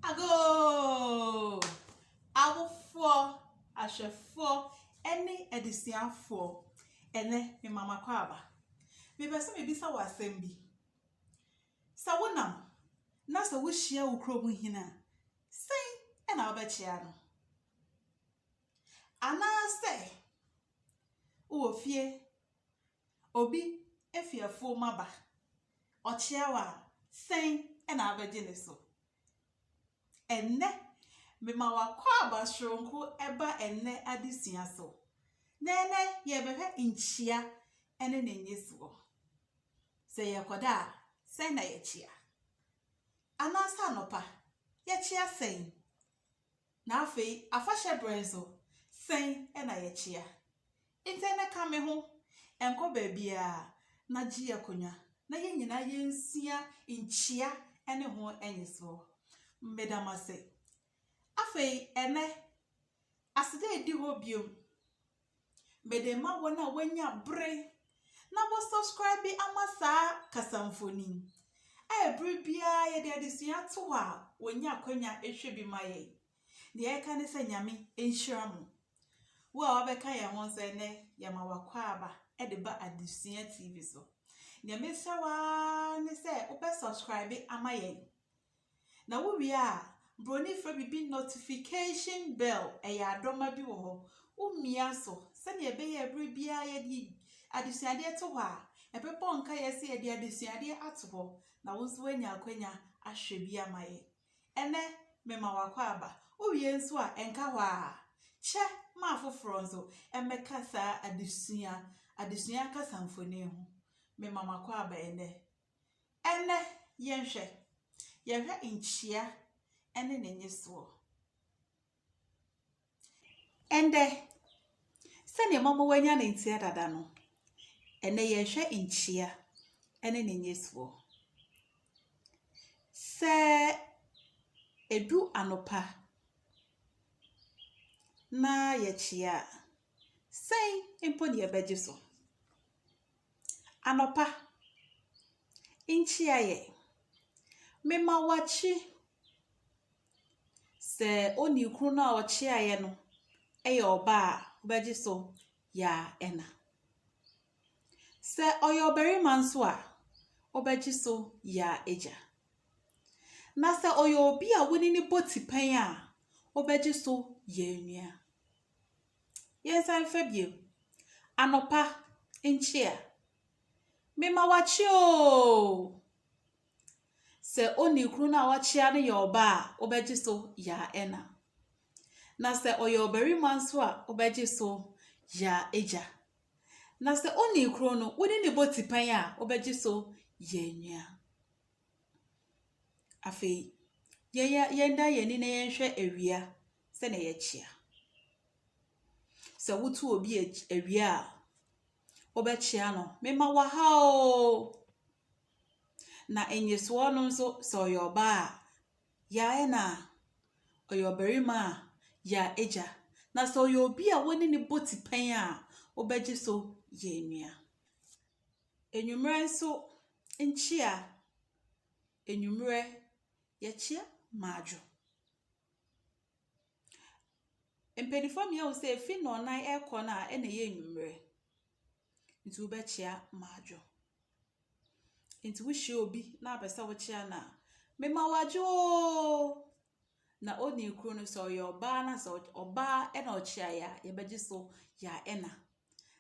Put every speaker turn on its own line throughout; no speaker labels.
Agoo! Awofoɔ, ahwɛfoɔ ɛne adesuafoɔ, ɛnɛ me ma m'akwaaba. Me pɛ sɛ me bisa wo asɛm bi. Sɛ wo nam, na sɛ wo hyia wo kuro mu hene a, sɛn ɛna wo bɛ kyea no? Anaa sɛ, wo wɔ fie, Obi fi afuom aba, ɔkyea wo a, sɛn na wobɛgye no so? Ɛnnɛ, mema w'akwaaba soronko ba ɛnnɛ adesua so, na ɛnnɛ yɛrebɛhwɛ nkyia ne ne nnyesoɔ. Sɛ yɛrekɔda a, sɛn na yɛkyea? Anaasɛ anɔpa, yɛkyea sɛn? Na afei afahyɛ bere nso, sɛn na yɛkyea? Ntɛn na ka me ho, nkɔ baabiara na gye akonnwa na yɛn nyinaa yensua nkyia ne ho nnisoɔ. Meda mo ase. Afei ɛnnɛ, aseda adi hɔ bio. Mede rema wɔn a wɔanya bere na wɔ subscribe ama saa kasamfoni a bere biara yɛde adesua to hɔ a wɔnya akwanya hwɛ bi ma yɛn. Deɛ ɛka ne sɛ Nyame nhyira mo. Wo a wabɛka yɛn ho nso ɛnɛ yɛma wakwaaba de ba Adesua TV so. Deɛ mesrɛ wo ara ne sɛ wobɛ subscribe ama yɛn Na wo wie a, broni frɛ biribi notification bell, ɛyɛ adɔma bi wɔ hɔ, wo mia so sɛdeɛ ɛbɛyɛ a berɛ biara yɛde adesuadeɛ to hɔ a, ɛbɛbɔ nkaeɛ sɛ yɛde adesuadeɛ ato hɔ, na wo nso woanya akwanya ahwɛ bi ama yɛn. Ɛnnɛ, mema w'akwaaba. Wo wie nso a, ɛnka hɔ ara. Kyɛ ma afoforɔ nso mmɛka saa adesua, adesua kasamfonin ho. Mema m'akwaaba ɛnnɛ. Ɛnnɛ, yɛnhwɛ. Yɛhwɛ nkyia ne ne nyesoɔ. Ɛndɛ, sɛdeɛ mama wanya ne nteɛ dada no, ɛnɛ yɛhwɛ nkyia ne ne nyesoɔ. Sɛ ɛdu anopa na yɛkyia a, sɛn mpo na yɛbɛgye so? Anɔpa nkyia yɛ. Mema wakyi sɛ onii koro no a ɔkyiaeɛ no yɛ ɔbaa a, wobɛgye so yaa ɛna. Sɛ ɔyɛ ɔbarima nso a, wobɛgye so yaa agya. Na sɛ ɔyɛ obi a wo ne no bɔ tipɛn a, wobɛgye so yaa nua. Yɛnsan mfa biom. Anɔpa nkyea. Me ma wakye oo. Sɛ onii koro no a wakyea no yɛ ɔbaa a, wobɛgye so yaa ɛna. Na sɛ ɔyɛ ɔbarima nso a, wobɛgye so yaa agya. Na sɛ onii koro no, wo ne ne bɔ tipɛn a, wobɛgye so yaa nua. Afei, yɛyɛ yɛdan yɛn ani na yɛnhwɛ awia sɛdeɛ ɛyɛ kyea. Sɛ wotu obi awia a, wobɛkyea no, mema wo aha oo. Na nnyesoɔ no nso, sɛ ɔyɛ ɔbaa a, ya ɛna, ɔyɛ ɔbarima a, ya agya. Na sɛ ɔyɛ obi a wo ne no bɔ tipɛn a, wobɛgye so yɛ nua. Anwummerɛ nso nkyea, anwummerɛ yɛkyea madwo. Mpaninfoɔ mmienu ahu sɛ efi nnɔnan ɛkɔ no a ɛna ɛyɛ anwummerɛ nti wobɛkyea madwo. Nti wohyia obi na wopɛ sɛ wokyea no a, mema wo adwo oo. na onii koro no sɛ ɔyɛ ɔbaa na sɛ ɔbaa na ɔkyea ya a, yɛbɛgye so ya ɛna.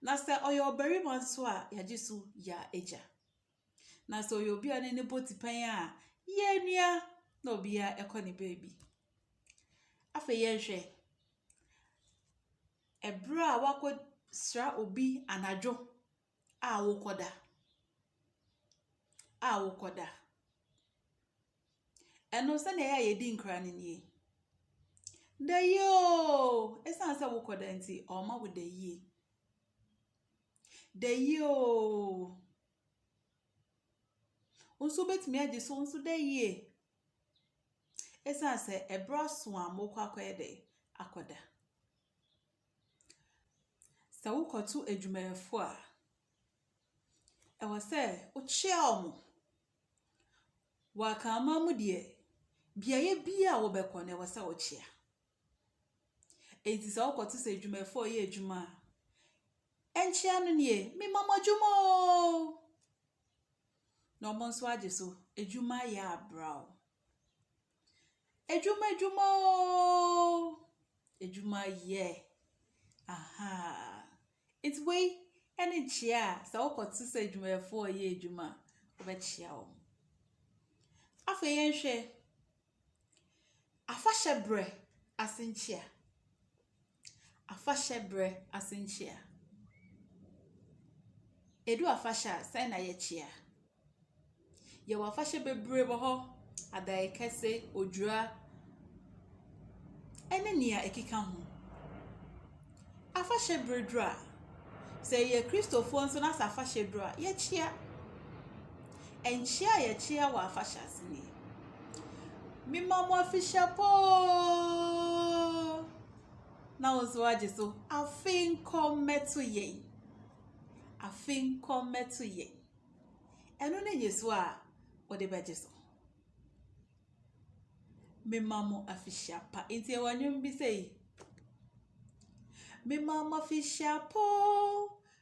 Na sɛ ɔyɛ ɔbarima nso a, yɛagye so ya agya. Na sɛ ɔyɛ obi a ne ne bɔ tipɛn a, ya nua na obiara ɛkɔ ne baabi. Afei yɛnhwɛ, ɛberɛ a wakɔsra obi anadwo, A wokɔda. A wokɔda. Ɛno sɛdeɛ ɛyɛ a yɛdi nkra no nie. Da yie oo! Ɛsiane sɛ wokɔda nti, ɔma wo da yie. Da yie oo! Wo nso wobɛtumi agye so nso da yie. Ɛsiane sɛ ɛberɛ aso a mokɔ akɔyɛ dɛ akɔda. Sɛ wokɔto adwumayɛfo a, ɛwɔ sɛ wokyia wɔn. Wɔ Akanman mu deɛ, beaeɛ biara a wobɛkɔ no ɛwɔ sɛ wokyia. Enti sɛ wokɔto sɛ adwumayɛfo a wɔreyɛ adwuma a, ɛnkyea no nie, mema mo adwuma oo! Na wɔn nso agye so. Adwuma yɛ abira o. Adwuma adwuma oo, adwuma yɛ, ahaa. Nti wei ɛne kyea a sɛ wo kɔ te sɛ adwumayɛfoɔ a wɔyɛ adwuma a wobɛkyea wɔn. Afei yɛn hwɛ, afahyɛ brɛ asenkyea. Afahyɛ berɛ ase nkyea. Ɛdu afahyɛ a, sɛn na yɛkyea? Yɛwɔ afahyɛ bebree wɔ hɔ, Adaeɛkɛse, Odwira, ne deɛ ɛkeka ho. Afahyɛ berɛ duru a, sɛ yɛyɛ Kristofoɔ nso na sɛ afahyɛ duru a, yɛkyea. Nkyea a yɛkyea wɔ afahyɛ ase nie, Mema mo afihyɛ pa oo. na wo nso agye so. Afei nkɔ mmɛto yɛn. Afei nkɔ mmɛto yɛn. Ɛno ne nyeso a wode bɛgye so. Mema mo afihyia pa. Nti ɛwɔ nnwom bi sɛ yi. Mema mo afihyia pa o.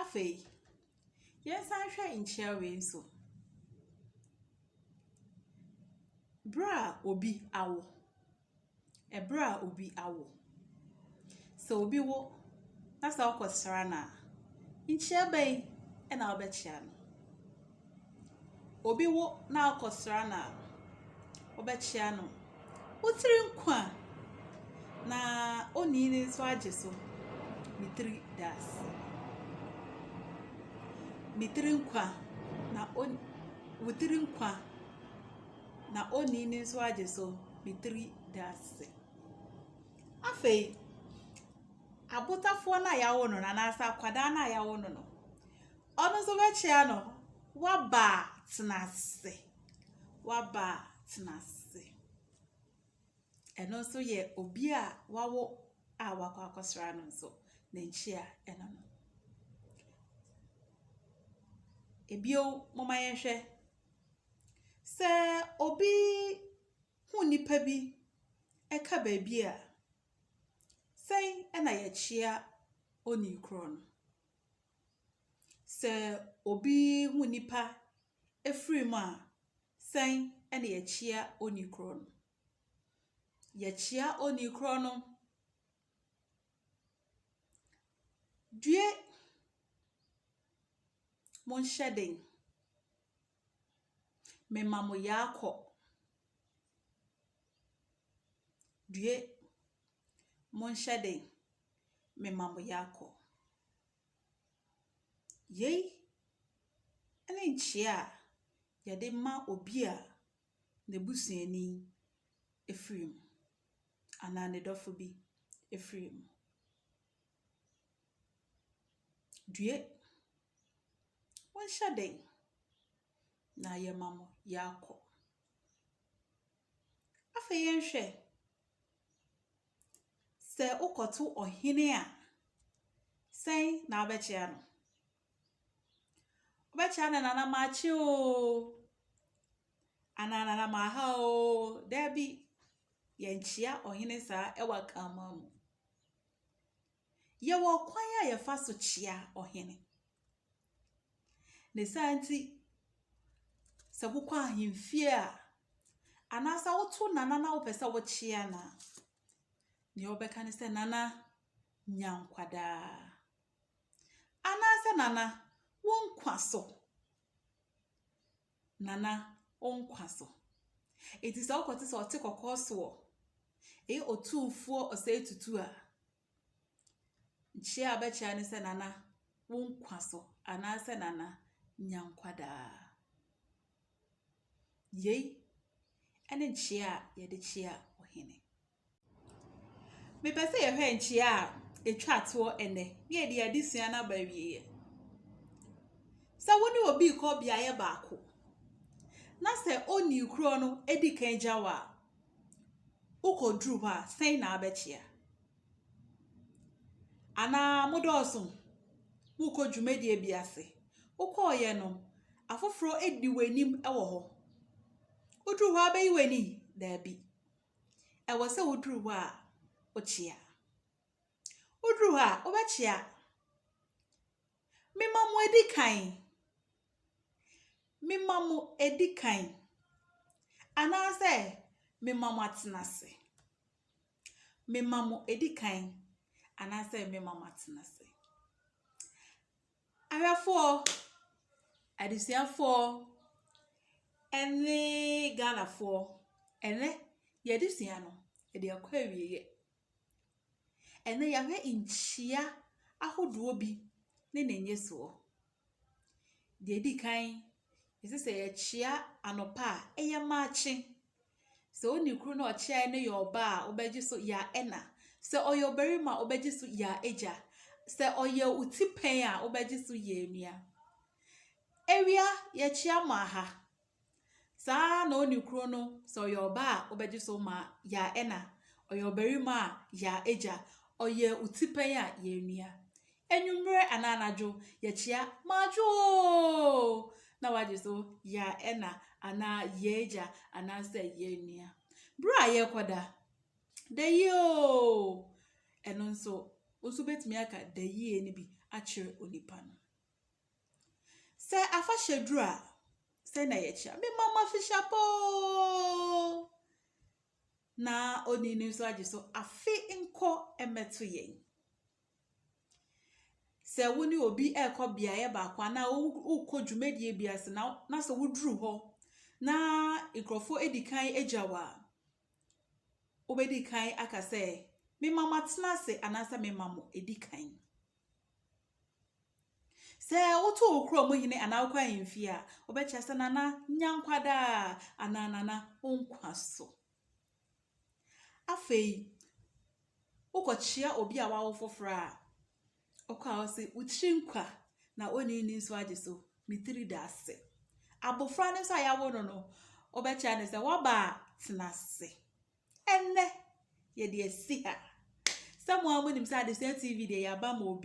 Afei, yɛnsan nhwɛ nkyia wei nso. Bere a obi awo, bere a obi awo. Sɛ obi wo na sɛ wokɔsra no a, nkyia bɛn na wobɛkyia no? Obi wo na akɔsra no a, wobɛkyea no. Wo tiri nkwa a, na onii no nso agye so. Me tiri da ase. Me tiri nkwa na on wo tiri nkwa na onii no nso agye so. Me tiri da ase. Afei, abotafoɔ no a yɛawo no no anaasɛ akwadaa no a yɛawo no no, Ɔno nso bɛkyea no. Waba a, tena ase. Waba a, tena ase. Ɛno nso yɛ obi a wawo a wakɔ akɔsra no nso ne nkyea ɛno no. Ebio moma yɛnhwɛ sɛ obi hu nipa bi ɛka baabi a sɛn ɛna yɛkyea onii korɔ no. Sɛ obi hu nnipa firi mu a, sɛn na yɛkyia onii korɔ no? Yɛkyia onii korɔ no, Due, monhyɛ den, mema mo yea kɔ. Due, Monhyɛ den, mema mo yako. Yei ne nkyea a yɛde ma obi a ne busuani firi mu anaa ne dɔfo bi firi mu. Due, monhyɛ den, na yɛma mo yako. Afei yɛnhwɛ Sɛ wokɔto ɔhene a, sɛn na wobɛkyea no? Wobɛkyea no nana makye oo, anaa nana maha oo. Dabi, yɛnkyea ɔhene saa wɔ Akanman mu. Yɛwɔ ɔkwan a yɛfa so kyia ɔhene. Ne saa nti, sɛ wokɔ ahemfie a, anaasɛ woto nana na wopɛ sɛ wokyia no a, nea wobɛka ne sɛ, Nana, nya nkwa daa. Anaasɛ, Nana, wo nkwa so. Nana, wo nkwa so. Enti sɛ wokɔte sɛ ɔte kɔkɔɔ soɔ, ɛyɛ otumfoɔ ɔsɛe tutu a, nkyea a bɛkyea ne sɛ Nana, wo nkwa so, anaasɛ Nana, nya nkwa daa. Yei ɛne nkyea a yɛde kyea ɔhene. Mepɛ sɛ yɛhwɛ nkyea a etwa toɔ ɛnnɛ na yɛde yɛn adesua no aba awieeɛ. Sɛ wo ne obi rekɔ beaeɛ baako na sɛ ɔnni korɔ no di kan gya wo a, wokɔduru hɔ a, sɛn na abɛkyea? Anaa modɔɔso, morekɔ dwumadie bi ase. Wokɔeɛ no, afoforɔ di w'anim wɔ hɔ. Woduru hɔ a wobɛyi w'ani? Daabi. Ɛwɔ sɛ woduru hɔ a, wokyea. Woduru hɔ a, wobɛkyea. Mema mo adi kan. Mema mo adi kan. Anaasɛ mema mo atena ase. Mema mo adi kan. Anaasɛ mema mo atena ase. Ahwɛfoɔ, adesuafoɔ ɛne Ghanafoɔ, ɛnɛ yɛn adesua no yɛde akɔ awieɛ. Ɛnɛ yɛahwɛ nkyia ahodoɔ bi ne ne nnyesoɔ. Deɛ ɛdi kan, ɛsɛ sɛ yɛkyia anɔpa a ɛyɛ makye. Sɛ onni kunu na ɔkyerɛ no yɛ ɔba a, wobɛgye so yɛ ɛna. Sɛ ɔyɛ ɔbarima a, wobɛgye so yɛ agya. Sɛ ɔyɛ wo tipɛn a, wobɛgye so yɛ nua. Awia, yɛkyea mo aha. Saa ara na onni kunu no, sɛ ɔyɛ ɔba a, wobɛgye so ma yɛ ɛna. Ɔyɛ ɔbarima a, yɛ agya. Ɔyɛ wo tipɛn a, yɛ nua. Anwummerɛ anaa anadwo, yɛkyea Madwo oo! na wagye so Ya ɛna anaa Y'agya anaasɛ Y'anua. Berɛ a yɛrekɔda, Dayi oo! Ɛno nso, wo nso wobɛtumi aka dayie no bi akyerɛ onipa no. Sɛ afahyɛ duru a, sɛn na yɛkyea? Me mama Fishapa oo! Na onii no nso agye so Afe nkɔ mmɛto yɛn. Sɛ wo ne obi rekɔ beaeɛ baako anaa worekɔ dwumadie bi ase na na sɛ woduru hɔ na nkurɔfoɔ adi kan agya wo a, wobɛdi kan aka sɛ, mema mo atena ase anaasɛ mema mo adi kan. Sɛ woto wo kurom hene anaa wokɔ ahemfie a, wobɛkyerɛ sɛ nana nya nkwa daa anaa nana wo nkwa so. Afei, wokɔkyea obi a wawo foforɔ a, ɔkɔ a ɔse, wo tiri nkwa na onii ni nso agye so, me tiri da ase. Abofra no nso a yɛawo no no, wobɛkyea no sɛ, w'aba a tena ase. Ɛnnɛ, yɛde asi ha. Sɛ mo ara monim sɛ adesua TV deɛ yɛaba ma obiara.